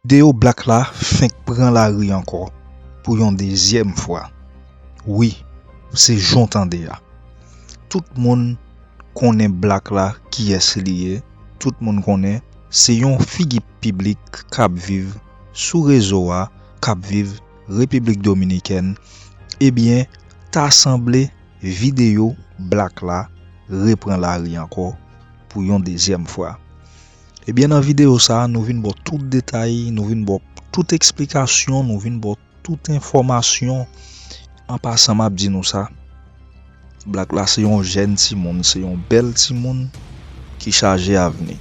Video black la fenk pran lari ankò pou yon dezyèm fwa wi se jan w tande a tout moun konnen black la kiyès li ye tout moun konnen se yon figi piblik kap viv sou rezo a kap viv repiblik dominikèn ebyen ta sanble Videyo Black la repran lari ankò pou yon dezyèm fwa. Ebyen nan videyo sa nou vin baw tout detay, nou vin baw tout eksplikasyon, nou vin baw tout enfòmasyon. An pasan map di nou sa, Black la se yon jèn timoun, se yon bèl timoun ki chaje avni.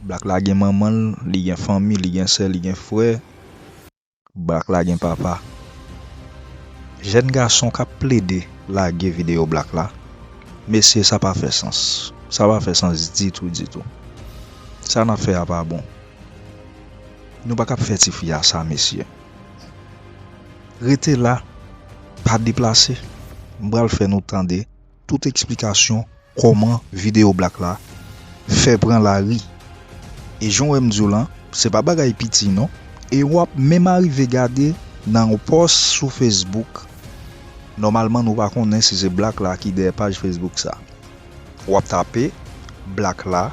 Black la gen manmanl, li gen fanmi, li gen sè, li gen frè. Black la gen papa. Jèn gason kap plede lage video black la mesye sa pa fè sans sa pa fè sans ditou ditou sa nap fè a pa bon nou pa kap fè tifi a sa mesye rete la pa deplase m pral fè nou tande Tout eksplikasyon kòman video black la fè pran lari e jan w wè m di w lan se pa bagay piti non e w ap menm arive gade nan yon pòs sou facebook nòmalman nou pa konnen si se black la ki dèyè paj facebook sa w ap tape black la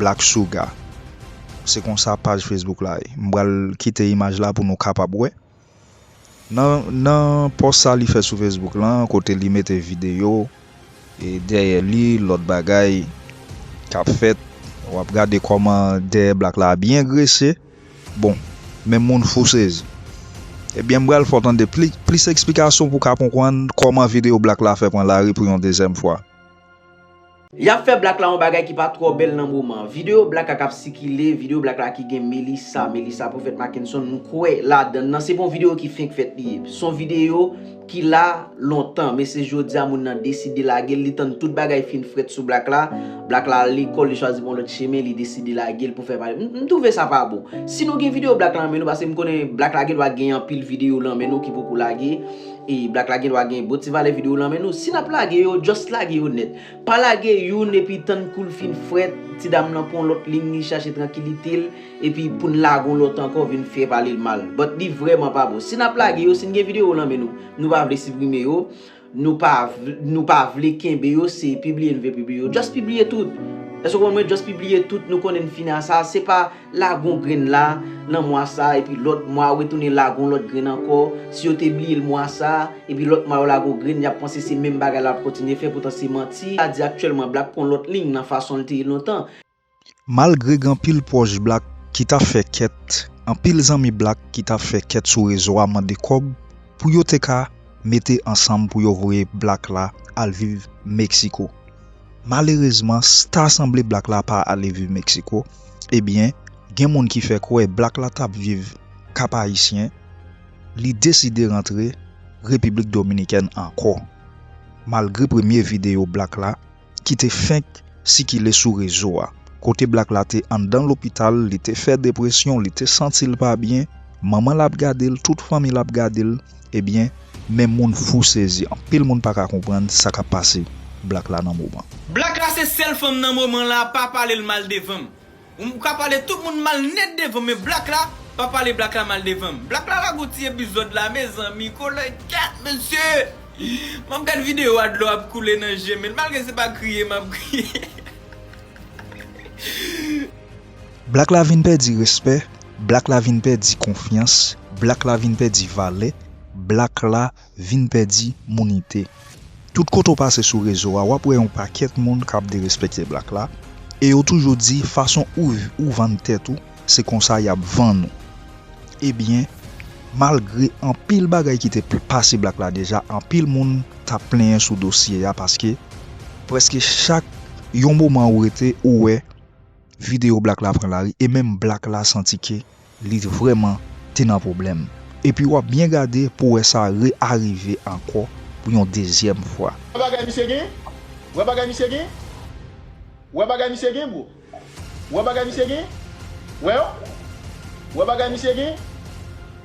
black sugar se konsa paj facebook la ye m pral kite imaj la pou nou kapab wè. Nan pòs sa li fè sou Facebook lan kote li mete videyo dèyè li lòt bagay kap fèt wap gade kòman dèyè Black la byen grese bon men moun fou sezi ebyen m pral fè w tande plis eksplikasyon pou w ka konprann kòman videyo Black la fè pran lari pou yon dezyèm fwa. Yap fè black la yon bagay ki pa twò bèl nan moman. Videyo black la kap sikile, videyo black la ki gen Melissa, Melissa Prophète Mackenson m kwè ladann nan se pa yon videyo ki fenk fèt li ye. Son videyo ki la lontan men se jodia moun nan deside lagel li tann tout bagay fin frèt sou black la, black la al lekòl li chwazi pran yon lòt chemen li deside lagel pou fè pale. M twouve sa pa bon. Si nou gen videyo black la nan men nou paske m konnen black la gen dwa gen anpil videyo nan men nou ki poko lage. Ey black la gendwa gen bon ti valè video w lan men nou si nap lage yo just lage yo nèt pa lage youn epi tann koul fin frèt ti dam lan pran yon lòt ligne li chache trankilite l epi poun lage yon lòt ankò vin fè pale l mal but li vrèman pa bon si nap lage yo si n gen video w lan men nou nou pa vle siprime yo nou pa nou pa vle kenbe yo se pibliye n vle pibliye yo just pibliye tout èske w konprann mwen just pibliye tout nou konnen n fini a sa se pa lagon grenn la nan mwa sa epi lòt mwa yo retounen lagon lòt grenn ankò, si yo te bliyel mwa sa epi lòt mwa yo lagon grenn yap panse se menm bagay la lap kontinye fè poutan se manti, ta di aktyèlman Black pwan lòt liy nan fason li te ye lontan. Malgre gen anpil pwòch Black ki tap fè kèt, anpil zanmi Black ki tap fè kèt sou rezo a mande kòb pou yo te ka mete ansanm pou yo voye Black la al viv Mexico. Malerezman sta sanble Black la pa ale viv Mexico, Ebyen, gen moun ki fè kwè Black la tap viv Kap Ayisyen, li deside rantre Repiblik Dominikèn ankò, malgre premye videyo Black la ki te fenk sikile sou rezo a, kote Black la te anndan lopital, li te fè depresyon, li te santi l pa byen, manman l ap gade l, tout fanmi l ap gade l, Ebyen men moun fou sezi. Anpil moun paka konprann sa kap pase black la nan moman. Black la se sèl fanm nan moman la pa palel mal devanm ou ka pale tout moun mal nèt devanm men black la pa pale black la mal devanm black la lagon ti epizòd la mezanmi kolègèt mesye map gad video a dlo ap koule nan jem malgre se pa kriye map kriye. Black la vin pèdi respè, Black la vin pèdi konfyans, Black la vin pèdi valè, Black la vin pèdi mounite. Tout kote w pase sou rezo a wap wè yon pakèt moun kap derespekte Black la e yo toujou di fason ou vann tèt ou se konsa yap vann ou. Ebyen malgre anpil bagay ki te pase Black la deja anpil moun tap plenyen sou dosye a paske preske chak yon moman ou rete ou wè. videyo black la pran lari e menm black la santi ke li vrèman te nan pwoblèm. Epi wap byen gade pou wè sa re arive ankò pou yon dezyèm fwa. Wè bagay misye gen, wè bagay misye gen, wè bagay misye gen bro, wè bagay misye gen, wè yo, wè bagay misye gen,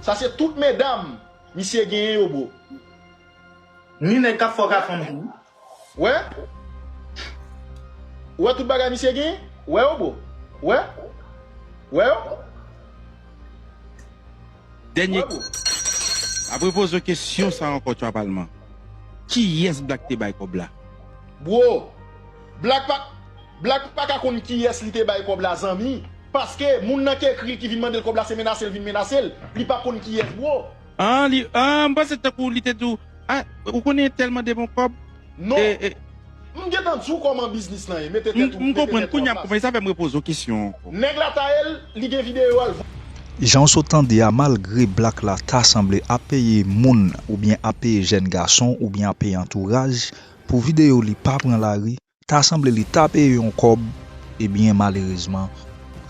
sa se tout medam misye genyen yo bro. Ni nèg kap fè w ka fanm tou wi. Wè Ou wè tout bagay misye genyen Ou wè yo bro Ou wè Ou wè yo Ou wè bro. Apre poze yo kesyon sa ankò tchwa palman. Kiyès Black te bay kòb la? Bro Black pa Black paka konn kiyès li te bay kòb la zanmi paske moun nan k ekri ki vin mandel kòb la se menasel vin menasel li pa konn kiyès bro. An li an m panse tankou li te di w a ou konnen telman de bon kob Non! e e. M gentan di w koman biznis lan ye mete tèt ou M mete konprann tèt ou kounya an m plas. konprann e sa fè m repoze w kesyon an ankò. Neg la ta el li gen video al. Janw sot tande a malgre black la ta sanble ap peye moun oubyen ap peye jèn gason oubyen ap peye antouraj pou video li pa pran lari Ta sanble li ta peye yon kòb ebyen malerezman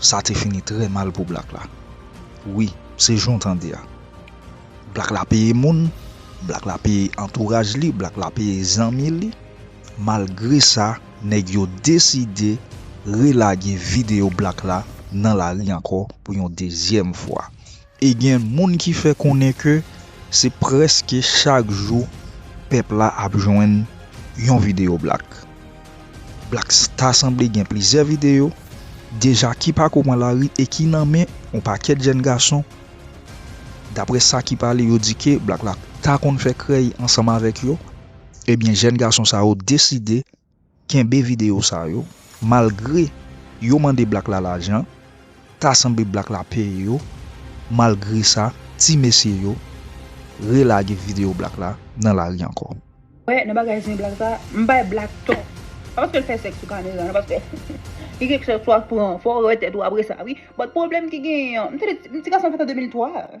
sa te fini trè mal pou black la wi se jan w tande a black la peye moun black la peye antouraj li black la peye zanmi li malgre sa nèg yo deside relage video black la nan lari ankò pou yon dezyèm fwa. E gen moun ki fè konnen ke se prèske chak jou pèp la ap jwenn yon videyo Black. Black ta sanble gen plizyè videyo deja ki pako pran lari e ki nan men yon pakèt jèn gason. Daprè sa ki pale yo di ke Black la ta konn fè krèy ansanm avèk yo. Ebyen jèn gason sa yo deside Kenbe video sa yo, malgre yo mande black la lajan, ta sanble black la peye yo, malgre sa ti mesye yo re lage video black la nan lari ankò. Wè nan bagay zen black sa, m bay black tò. Pa paske l fè sèks sou kamera nan paske li gen kèk fwa pran fò w wè tèt ou apresa wi but pwoblèm ki genyen an m tande ti gason sa fèt an 2003.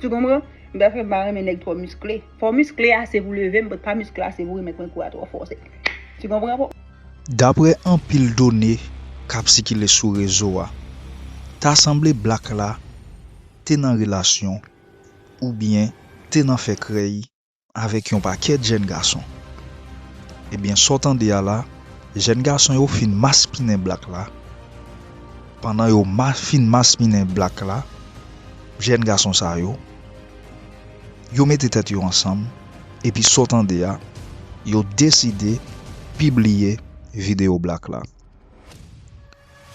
Tu konpran? M ta fè m pa renmen nèg twò miskle. Fò w miskle ase pou leve m, but pa miskle ase pou remèt mwen kou a twò fò. Se, tu konpran bro? Daprè anpil done k ap sikile sou rezo a, ta sanble Black la te nan relasyon oubyen te nan fè krèy avèk yon pakèt jèn gason. Ebyen sa w tande a la, jèn gason yo fin maspinen Black la, pandan yo fin maspinen Black la, jèn gason sa yo, yo mete tèt yo ansanm, epi sa w tande a, yo deside pibliye videyo Black la.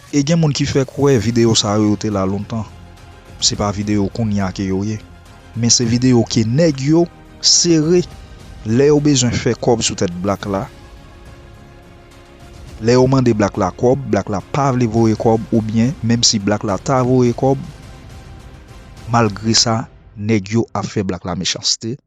E gen moun ki fè kwè videyo sa yo yo te la lontan. Se pa videyo kounya ke yo ye. Men se videyo ke nèg yo sere lè yo bezwen fè kòb sou tèt Black la. Lè yo mande Black la kòb, Black la pa vle voye kòb oubyen menm si Black la ta voye kòb, malgre sa nèg yo ap fè Black la mechanste.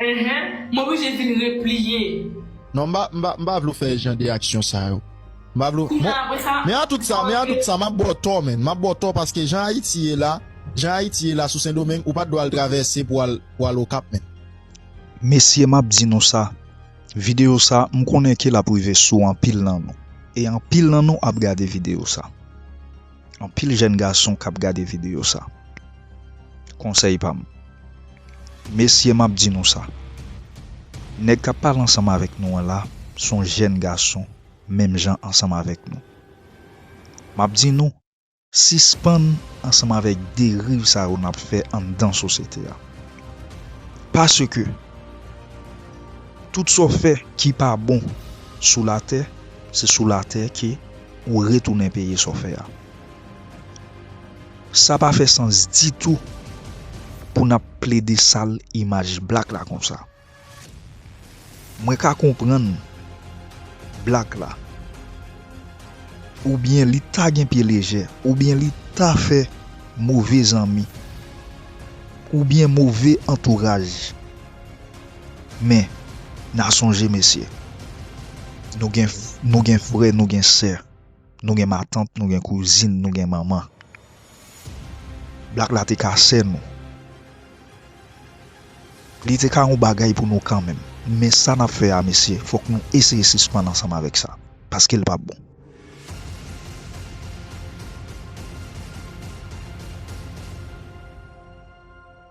Enhen m oblije vin repliye. Non m pa m pa vle w fè jan de aksyon sa yo m pa vle w bon men a tout sa men a tout sa m ap ba w tò menn m ap ba w tò paske jan ayiti ye la jan ayiti ye la sou sendomeng ou pat dwe al travèse pou al pou al okap menn. Mesye map di nou sa, video sa m konnen ke lap rive sou anpil nan nou e anpil nan nou ap gade video sa. anpil jèn gason kap gade video sa konsèy pam mesye map di nou sa nèg kap pale ansanm avèk nou an la son jèn gason menm jan ansanm avèk nou map di nou sispann ansanm avèk deriv sa yo nap fè anndan sosyete a paske tout sa w fè ki pa bon sou latè se sou latè ke ou retounen peye sa w fè a. Sa pa fè sans ditou pou n ap plede sal imaj black la konsa. Mwen ka konprann black la oubyen li ta gen pye lejè oubyen li ta fè move zanmi oubyen move antouraj. Men, na sonje mesye, nou gen frè, nou gen sè, nou gen matant, nou gen kouzin, nou gen manman. Blak la te ka sè nou. Li te ka yon bagay pou nou kanmenm. Men sa nap fè a mesye, fòk nou eseye sispann ansanm avèk sa. Paske l pa bon.